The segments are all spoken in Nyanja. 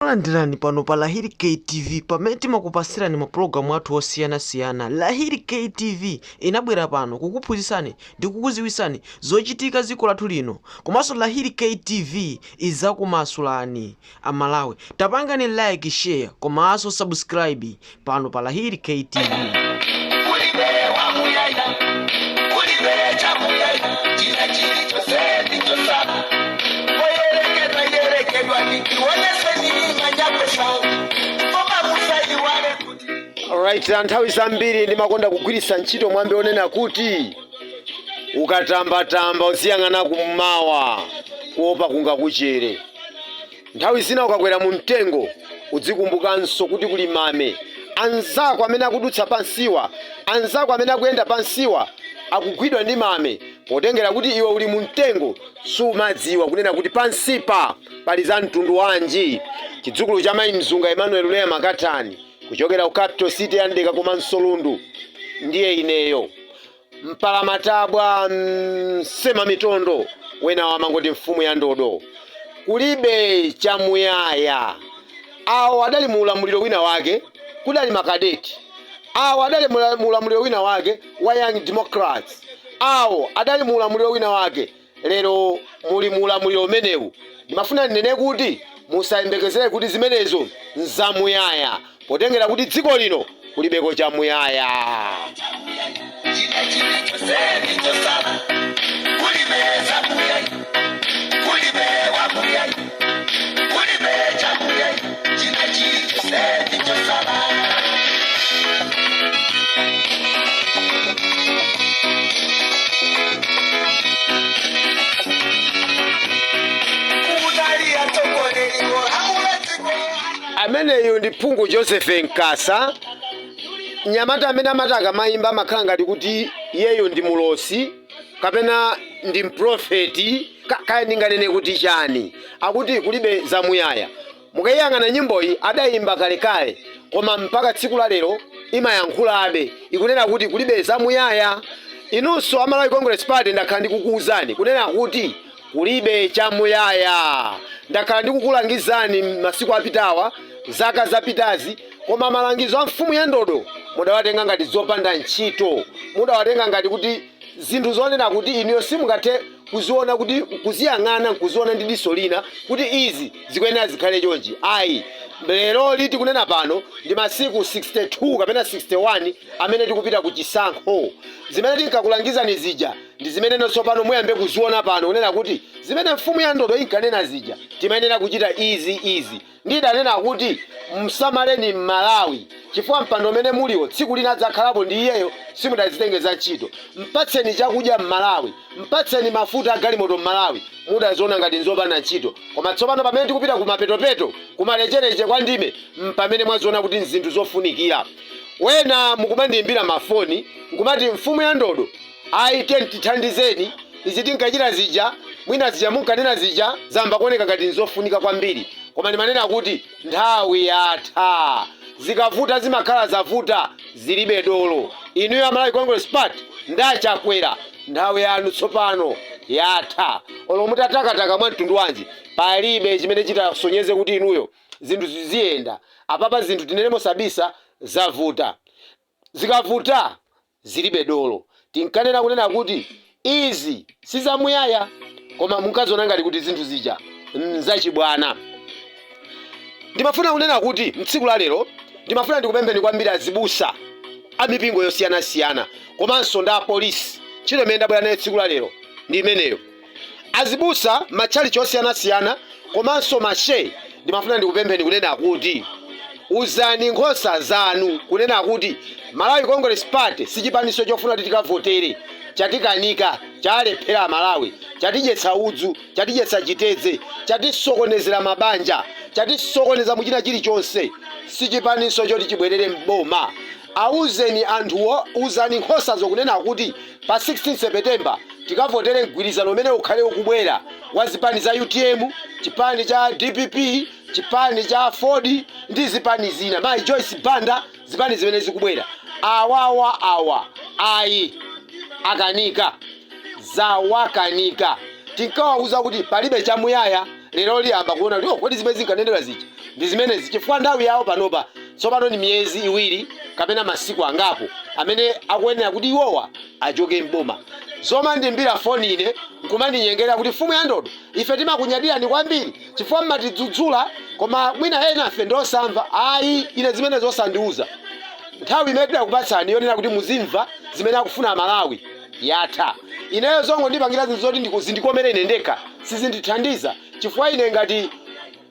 Takulandirani pano pa Lahiri K TV pamene timakupasirani mapulogalamu athu osiyanasiyana. Lahiri K TV inabwera pano kukuphunzitsani ndi kukudziwitsani zochitika dziko lathu lino. Komanso Lahiri K TV idzakumasulani. Amalawi, tapangani like, share komanso subscribe pano pa lahiri ktv kulibe wamuyaya kulibe chamuyaya china chili chose n'chotsala oyerekedwa yerekedwa ndikiwoneseni manyapesa koma musaiwale kuti Alright, na nthawi zambiri ndimakonda kugwiritsa ntchito mwambi onena kuti ukatambatamba uziyang'ana kummawa kuopa kungakuchere Nthawi zina ukakwera mumtengo udzikumbukanso kuti kuli mame. Anzako amene akudutsa pansiwa, anzako amene akuyenda pansiwa akugwidwa ndi mame. Potengera kuti iwe uli mumtengo, sumadziwa kunena kuti pansipa pali za mtundu wanji. Chidzukulu cha Mayi Mzunga Emmanuel Leah Makatani kuchokera ku Capital City ya Mdeka komanso Lundu ndiye ineyo. mpalamatabwa msema mitondo wena wamangoti mfumu ya ndodo kulibe chamuyaya awo adali mu ulamuliro wina wake kudali makadeti awo adali mu ulamuliro wina wake wa young democrats awo adali mu ulamuliro wina wake Lero muli mu ulamuliro umenewu. Ndimafuna ndinene kuti musayembekezere kuti zimenezo nzamuyaya, potengera kuti dziko lino kulibeko chamuyaya. China chili chonse ndi chotsala, kulibe zamuyaya, kulibe wamuyaya. ameneyo ndi phungu joseph nkasa mnyamata amene amati akamayimba amakhala ngati kuti iyeyo ndi mulosi kapena ndi mprofeti kaya ndinganene kuti chani akuti kulibe zamuyaya mukayiyang'ana nyimboyi adayimba kalekale koma mpaka tsiku la lero imayankhulabe ikunena kuti kulibe zamuyaya inunso a malawi congress party ndakhala ndikukuwuzani kunena kuti Kulibe chamuyaya. Ndakhala ndikukulangizani masiku apitawa, zaka zapitazi, koma malangizo a mfumu ya ndodo mudawatenga ngati zopanda ntchito. Mudawatenga ngati kuti zinthu zonena kuti inuyo simungathe kuziona kuti kuziyang'ana nkuziona ndi diso lina kuti izi zikuyenera zikhale chonchi. Ayi, leroli tikunena pano ndi masiku 62 kapena 61 amene tikupita ku chisankho. Zimene tinkakulangizani zija Ndi zimeneno tsopano muyambe kuziona pano, kunena kuti, Zimene mfumu ya ndodo inkanena zija, timayenera kuchita izi, izi. Ndidanena kuti, Msamaleni m'Malawi, chifukwa mpando umene muliwo tsiku lina adzakhalapo ndi iyeyo, simudazitengere za ntchito. Mpatseni chakudya m'Malawi, mpatseni mafuta a galimoto m'Malawi, mudaziona ngati nzopanda ntchito. Koma tsopano pamene tikupita kumapetopeto, kumalecheleche kwa ndime, mpamene mwaziona kuti nzinthu zofunikira. Ena mukumandiimbira mafoni, nkumati, Mfumu ya ndodo! Ayi tiyeni tithandizeni izi tinkachita zija mwina zija munkanena zija zayamba kuoneka ngati nzofunika kwambiri koma ndimanena kuti nthawi yatha zikavuta zimakhala zavuta zilibe dolo inuyo a Malawi Congress Party ndi a Chakwera nthawi yanu tsopano yatha olo mutatakataka mwa mtundu wanji palibe chimene chitasonyeze kuti inuyo zinthu ziziyenda apapa zinthu tinene mosabisa zavuta Zikavuta zilibe dolo tinkanena kunena kuti izi si zamuyaya koma munkaziona ngati kuti zinthu zija n'zachibwana. Ndimafuna kunena kuti m'tsiku la lero ndimafuna ndikupempheni kwambiri azibusa a mipingo yosiyanasiyana komanso ndi apolisi, ntchito imene ndabwera nayo tsiku la lero ndi imeneyo. Azibusa matchalichi osiyanasiyana komanso mashehe ndimafuna ndikupempheni kunena kuti uzani nkhosa zanu kunena kuti Malawi Congress Party si chipaninso chofuna kuti tikavotere chatikanika chaalephera amalawi chatidyetsa udzu chatidyetsa chitedze chatisokonezera mabanja chatisokoneza muchina chilichonse si chipaninso choti chibwerere m'boma Awuzeni anthuwo, uzani nkhosazo kunena kuti pa 16 September tikavotere mgwirizano umene ukhale ukubwera wa zipani za utm, chipani cha dpp, chipani cha aford ndi zipani zina. Mayi Joyce Banda zipani zimene zikubwera awawa awa ayi akanika zawakanika. Tinkawawuza kuti palibe chamuyaya lero ayamba kuona kuti oh kodi zimene zinkanenedwa zija. ndi zimenezi chifukwa nthawi yawo panopa tsopano ndi miyezi iwiri kapena masiku angapo amene akuyenera kuti iwowa achoke m'boma zomandiimbira foni ine nkumandinyengera kuti mfumu ya ndodo ife timakunyadirani kwambiri chifukwa mmatidzudzula koma mwina ena afe ndiosamva ayi ine zimenezo zosandiuza nthawi imene tidakupatsani yonena kuti muzimva zimene akufuna amalawi yatha ineyo zongondipangira zinthu zoti ndiku- zindikomere ine ndekha sizindithandiza chifukwa ine ngati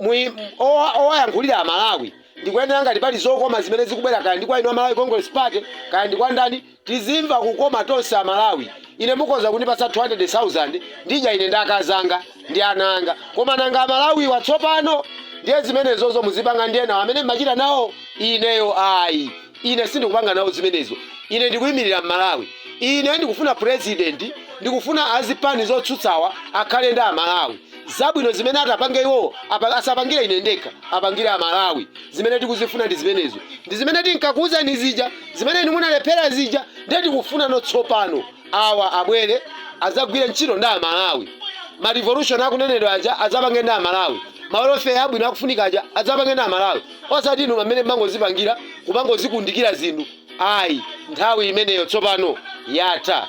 Mui- owa- owayankhulira amalawi ndikuyenera ngati pali zokoma zimene zikubwera kaya ndi kwa inu amalawi congress party kaya ndi kwa ndani tizimva kukoma tonse amalawi ine mukhoza kundipatsa 200000 ndidya ine ndi akazi anga ndi ana anga koma nanga amalawiwa tsopano ndiye zimenezozo muzipanga ndi enawo amene mmachita nawo ineyo ayi ine sindikupanga nawo zimenezo ine ndikuyimirira mmalawi ine ndikufuna purezidenti ndikufuna azipani zotsutsawa akhale ndi amalawi Zabwino zimene atapange iwowo asapangire ine ndekha, apangire Amalawi. Zimene tikuzifuna ndi zimenezo, ndi zimene tinkakuwuzani zija, zimene inu munalephera zija. Ndiye tikufunano tsopano awa abwere adzagwire ntchito ndi Amalawi, ma revolution akunenedwa aja adzapange ndi Amalawi, ma welfare abwino akufunika aja adzapange ndi Amalawi, osati inu amene mmangozipangira kumangozikundikira zinthu ayi. Nthawi imeneyo tsopano yatha.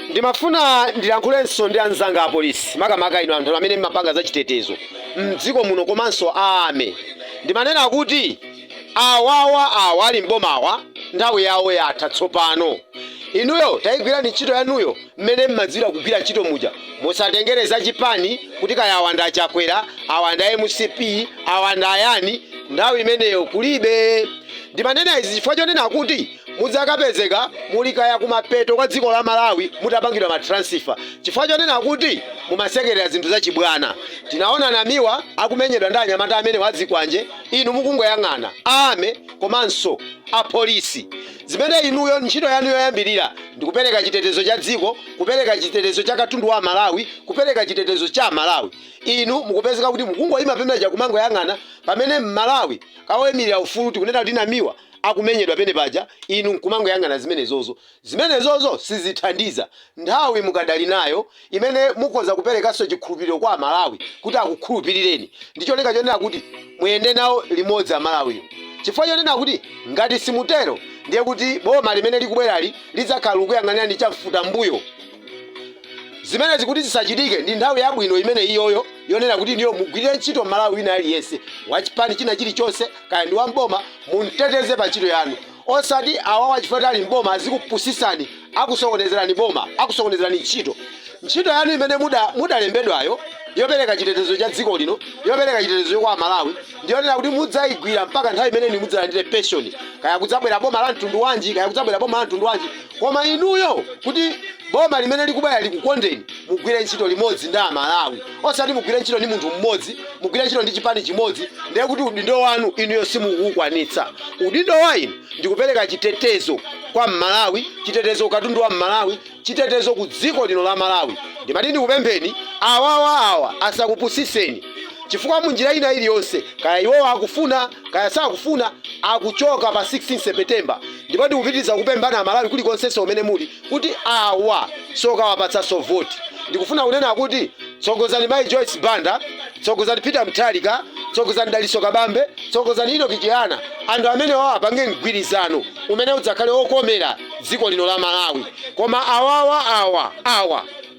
Ndimafuna ndilankhulenso ndi anzanga apolisi makamaka inu anthu amene mmapanga za chitetezo mdziko muno komanso a army ndimanena kuti awawa awa ali mbomawa nthawi yawo yatha tsopano inuyo tayigwirani ntchito yanuyo mmene mmadziwira kugwira ntchito muja musatengere za chipani kuti kaya awa ndi a Chakwera awa ndi a mcp awa ndi ayani nthawi imeneyo kulibe ndimanena izi chifukwa chonena kuti muzikapezeka muli kaya kumapeto kwa dziko la Malawi mutapangidwa ma transfer chifukwa chonena kuti mumasekerera zinthu za chibwana. Tinaona Namiwa akumenyedwa ndi anyamata amenewo a zikwanje inu mukungoyang'ana. A army komanso a police zimene inuyo ntchito yanu yoyambilira ndikupereka chitetezo cha dziko, kupereka chitetezo cha katundu wa Amalawi, kupereka chitetezo cha Amalawi inu mukupezeka kuti mukungoima penepaja kumangoyang'ana pamene Mmalawi woimilira ufulu tikunena kuti Namiwa akumenyedwa penepaja inu nkumangoyang'ana zimenezozo. Zimenezozo sizithandiza. Nthawi mukadali nayo imene mukhoza kuperekanso chikhulupiriro kwa Amalawi kuti akukhulupirireni ndi cholinga chonena kuti muyende nawo limodzi Amalawiwo chifukwa chonena kuti ngati simutero ndiye kuti boma limene likubwerali lidzakhala likukuyang'anirani chamfutambuyo. zimenezi kuti zisachitike ndi nthawi yabwino imene iyoyo yonena kuti inuyo mugwirire ntchito mmalawi wina aliyense wachipani china chilichonse kaya ndi wamboma mumteteze pa ntchito yanu osati awawa chifukwa choti ali mboma azikupusisani akusokonezerani boma akusokonezerani ntchito ntchito yanu imene muda- mudalembedwayo yopereka chitetezo cha dziko lino yopereka chitetezo kwa amalawi ndiyonena kuti mudzayigwira mpaka nthawi imene inu mudzalandire pension kaya kudzabwera boma la mtundu wanji kaya kudzabwera boma la mtundu wanji Koma inuyo kuti boma limene likubwera likukondeni mugwire ntchito limodzi ndi amalawi osati mugwire ntchito ndi munthu mmodzi mugwire ntchito ndi chipani chimodzi ndiye kuti udindo wanu inuyo simukuwukwanitsa udindo wa inu ndikupereka chitetezo kwa mmalawi chitetezo ku katundu wa mmalawi chitetezo ku dziko lino la malawi ndimati ndikupempheni awawa awa asakupusiseni chifukwa munjira ina iliyonse kaya iwowa akufuna kaya sakufuna akuchoka pa 16 september Ndipo ndikupitiliza kukupemphani a Malawi kulikonsenso kumene muli kuti awa si okawapatsanso voti. Ndikufuna kunena kuti tsogozani mayi Joyce Banda, tsogozani Peter Mutharika, tsogozani Dalitso Kabambe, tsogozani Enock Chihana, anthu amenewa apange mgwirizano umene udzakhale okomera dziko lino la Malawi. Koma awawa awa, awa.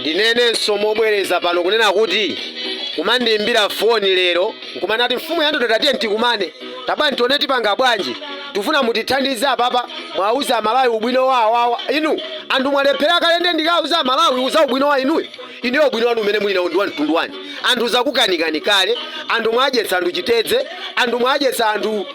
ndinenenso mobwereza pano kunena kuti kumandiimbira foni lero nkumanati mfumu ya ndodo tatiye tikumane tabwerani tione tipanga bwanji tifuna mutithandize apapa mwauza amalawi ubwino wa awawa inu anthu mwalephera kale nde ndikauza amalawi uza ubwino wa inuyo Inuyo ubwino wanu umene muli nawo ndi wa mtundu wanji? Anthu zakukanikani kale, anthu mwadyetsa anthu chitedze, anthu mwadyetsa anthu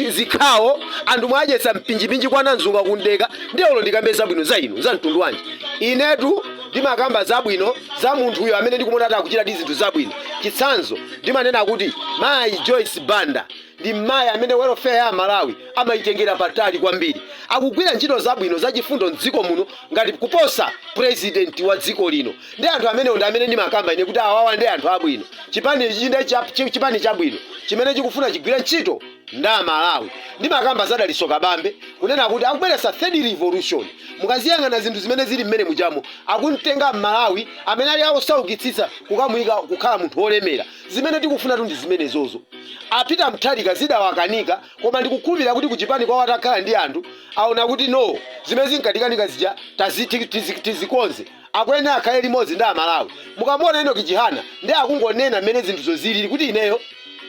zikhawo, anthu mwadyetsa mpinjipinji kwa Nanzunga ku Mdeka, ndiye olo ndikambe zabwino za inu za mtundu wanji? Inetu ndimakamba zabwino za munthuyo amene ndikumuona kuti akuchitadi zinthu zabwino. Chitsanzo, ndimanena kuti mayi Joyce Banda. Ndi m'mayi amene welfare ya amalawi amayitengera patali kwambiri. Akugwira ntchito zabwino zachifundo m'dziko muno ngati kuposa president wa dziko lino. Nde anthu amenewo ndi amene ndimakamba ine kuti awawa nde anthu abwino. Chipani ichi nde cha chipani chabwino chimene chikufuna chigwire ntchito ndi amalawi. Ndimakamba za Dalitso Kabambe kunena kuti akubweretsa third revolution. Mukaziyang'ana zinthu zimene zili m'menemujamo akumtenga m'malawi amene ali osaukitsitsa kukamuyika kukhala munthu wolemera. Zimene tikufunatu ndi zimenezozo. A Peter Mutharika zidawakanika koma ndikukhulupirira kuti kuchipani kwawo atakhala ndi anthu aona kuti no zimene zinkatikanika zija tizikonze. Akuyenera akhale limodzi ndi Amalawi. Mukamuona Enock Chihana ndiye akungonena mmene zinthuzo zilili kuti ineyo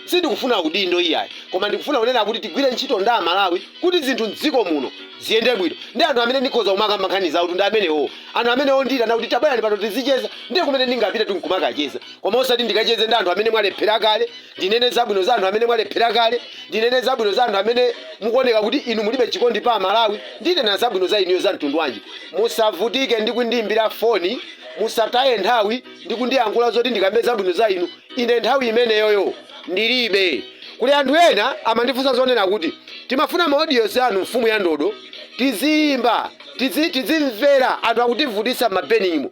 sindikufuna udindo iyayi koma ndikufuna kunena kuti tigwire ntchito ndi Amalawi kuti zinthu m'dziko muno ziyende bwino. Ndiye anthu amene ndikhoza kumakamba nkhani zawotu ndi amenewowo. Anthu amenewo ondiitana kuti tabwerani pano tizicheza ndiye kumene ndingapitetu n'kumakacheza. koma osati ndikacheze ndi anthu amene mwalephera kale ndinene zabwino za anthu amene mwalephera kale ndinene zabwino za anthu amene mukuoneka kuti inu mulibe chikondi pa amalawi ndinena zabwino za inuyo za mtundu wanji musavutike ndi kundiyimbira foni musataye nthawi ndi kundiyankhula zoti ndikambe zabwino za inu ine nthawi imeneyoyo ndilibe kuli anthu ena amandifunsa zonena kuti timafuna ma audios anu mfumu ya ndodo tiziyimba tizi- tizimvera anthu akutivutisa m'mabenimo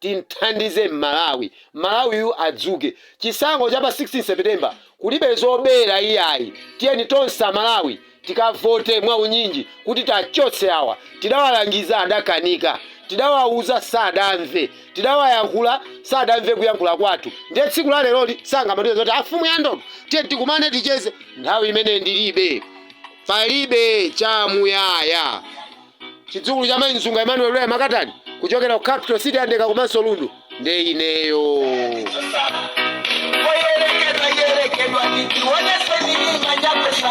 tithandize malawi malawiyu adzuke chisankho cha pa 16 september kulibe zobera iyayi tiyeni tonse amalawi tikavote mwaunyinji kuti tiwachotse awa tidawalangiza adakanika tidawauza sadamve tidawayankhula sadamve kuyankhula kwathu ndiye tsiku la leloli sangamatiuze zoti afumu ya ndodo tiyeni tikumane ticheze nthawi imene ndilibe palibe chamuyaya chidzukulu cha mai nzunga emmanuel lwa makatani kuchokera ku capital city andeka komanso lundu nde ineyo Oyerekedwa yerekedwa ndikuoneseni mimba nyakwesa